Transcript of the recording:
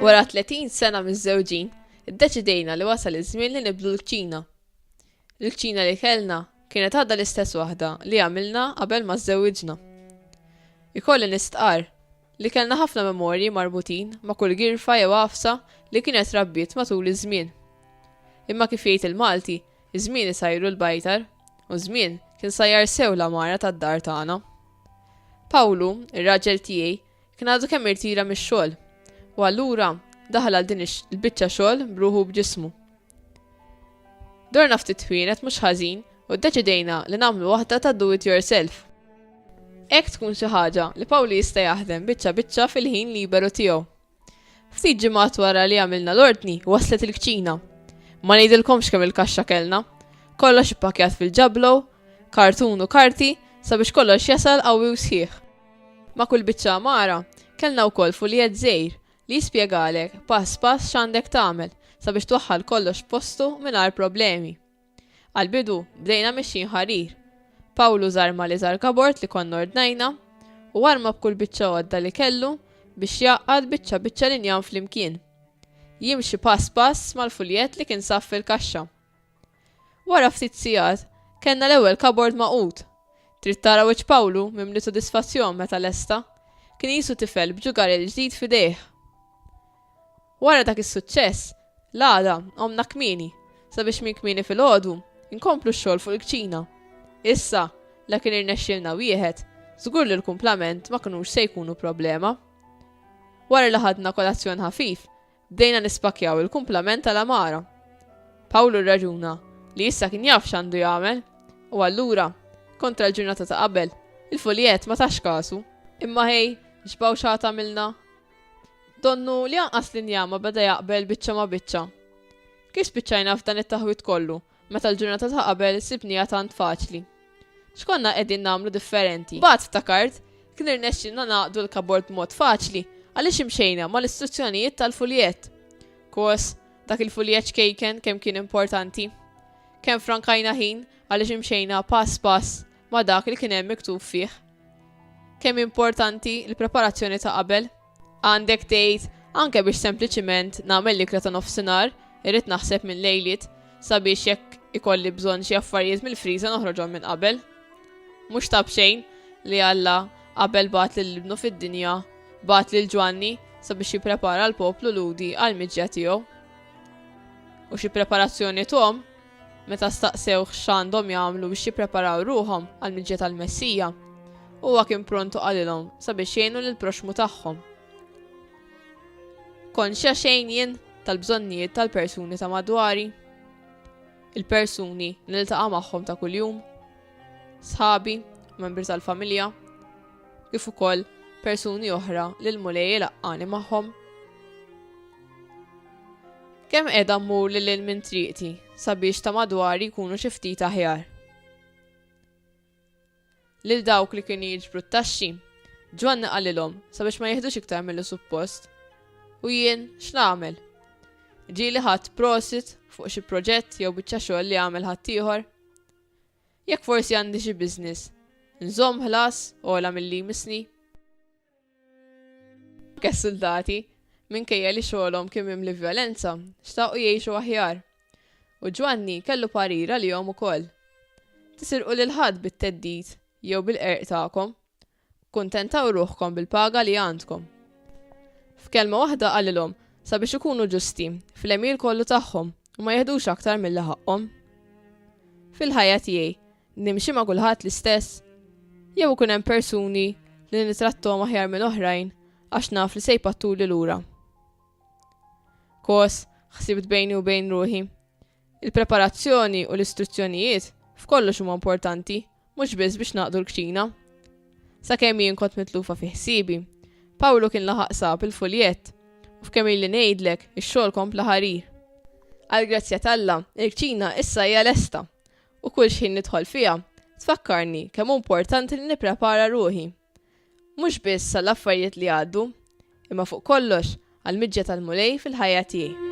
Wara 30 sena miż-żewġin, iddeċidejna li wasal iż-żmien li nibdlu l-kċina. Il-kċina li kellna kienet għadha l-istess waħda li għamilna qabel ma żżewġna. Ikolli nistqar li kellna ħafna memorji marbutin ma' kull girfa jew għafsa li kienet rabbiet matul iż-żmien. Imma kif jgħid il-Malti, Iż-żmien isajru l-bajtar, u ż-żmien kien sajjar sew l-għamara tad-dar tagħna. Pawlu, ir-raġel tiegħi, kien għadu kemm irtira mix-xogħol, u allura daħal għal din il-biċċa xogħol b'ruħu u b'ġismu. Dorna ftit twienet mhux ħażin u ddeċidejna li nagħmlu waħda ta' do it yourself. Hekk tkun xi ħaġa li Pawli jista' jaħdem biċċa biċċa fil-ħin liberu tiegħu Ftit ġimgħat wara li għamilna l-ordni, waslet il-kċina. Ma ngħidilkomx kemm il-kaxxa kellna. Kollox ippakjat fil-ġablo, kartun u karti sabiex kollox jasal qawwi u sħiħ. Ma' kull biċċa għamara, kellna wkoll fuljett żgħir li jispjegalek pass pass x'għandek tagħmel sabiex twaħħal kollox postu mingħajr problemi. Għall-bidu, bdejna mexjin ħarir. Pawlu żarma l-iżgħar kabord li konna ordnajna, u arma b'kull biċċa għodda li kellu biex jgħaqqad biċċa biċċa l-injam flimkien, jimxi pass pass mal-fuljett li kien sab fil-kaxxa. Wara ftit sigħat, kellna l-ewwel kabord magħqud. Trid tara wiċċ Pawlu mimli sodisfazzjon meta lesta. Kien qisu tifel b'ġugarell ġdid f'idejh. Wara dak is-suċċess, l-għada qomna kmieni sabiex minn kmieni filgħodu nkomplu x-xogħol fuq il-kċina. Issa, la kien irnexxielna wieħed, żgur li l-kumplament ma kinux se jkunu problema. Wara li ħadna kolazzjon ħafif, bdejna nispakkjaw il-kumplament tal-għamara. Pawlu rraġuna li issa kien jaf x'għandu jagħmel, u allura, kontra l-ġurnata ta' qabel, il-fuljett ma tax kasu. Imma ħej, x'bawxa għad għamilna? Donnu li anqas l-injama beda jaqbel biċċa ma' biċċa. Kif spiċċajna f'dan it-taħwid kollu, meta l-ġurnata ta' qabel sibniha tant faċli? X'konna qegħdin nagħmlu differenti? Bagħad ftakart, kien irnexxielna nagħqdu l-kabord b'mod faċli għaliex imxejna mal-istruzzjonijiet tal-fuljett. Kos, dak il-fuljett ċkejken kemm kien importanti! Kemm frankajna ħin għaliex imxejna pass pass ma' dak li kien hemm miktub fih. Kemm importanti l-preparazzjoni ta' qabel? Għandek tgħid, anke biex sempliċiment nagħmel l-ikla ta' nofsinhar, irrid naħseb minn lejliet sabiex jekk ikolli bżonn xi affarijiet mill-friża noħroġhom minn qabel. Mhux ta' b'xejn li Alla qabel bagħat lil ibnu fid-dinja, bagħat lil Ġwanni sabiex jipprepara l-poplu Lhudi għall-miġja tiegħu. U xi preparazzjoni tom Meta staqsewh x'għandhom jagħmlu biex jippreparaw ruħhom għall-miġja tal-Messija, huwa kien pront u qalilhom sabiex jgħinu lill-proxxmu tagħhom. Konxja xejn jien tal-bżonnijiet tal-persuni ta' madwari? Il-persuni li niltaqa' magħhom ta' kuljum? Sħabi, membri tal-familja? kif ukoll persuni oħra li l-Mulej ilaqqani magħhom. Kemm qiegħda mmur lil lil minn triqti sabiex ta' madwari jkunu xi ftit aħjar. Lil dawk li kienu jiġbru t-taxxi, Ġwanni qalilhom sabiex ma jihdux iktar mill suppost. U jien x'nagħmel? Ġieli ħadd prosit fuq xi proġett jew biċċa xogħol li għamel ħaddieħor? Jekk forsi għandi xi business, nżomm ħlas ogħla milli jmissni? Anke s-suldati, minkejja li xogħolhom kien mimli vjolenza, xtaqu jgħixu aħjar. U Ġwanni kellu parir għalihom ukoll, Tisirqu lil ħadd bit-theddid jew bil-qerq tagħkom. Kkuntentaw ruħkom bil-paga li għandkom. F'kelma waħda qalilhom, sabiex ikunu ġusti, fl-għemil kollu tagħhom, u ma jeħdux aktar milli ħaqqhom. Fil-ħajja tiegħi, nimxi ma' kulħadd l-istess? Jew ikun hemm persuni li nitrattom aħjar minn oħrajn għax naf li se jpattuli lura? Kos, ħsibt bejni u bejn ruħi. Il-preparazzjoni u l-istruzzjonijiet f'kollox huma importanti, mhux biss biex naqdu l-kċina. Sakemm jien kont mitlufa fi ħsiebi, Pawlu kien laħaq sab il-fuljett u f'kemm ili ngħidlek ix-xogħol kompla ħarir. Għall-grazzja t'Alla, il-kċina issa hija lesta u kull xħin nidħol fiha tfakkarni kemm hu importanti li nipprepara ruħi. Mhux biss għall-affarijiet li għaddu, imma fuq kollox għall-miġja tal-Mulej fil-ħajja tiegħi.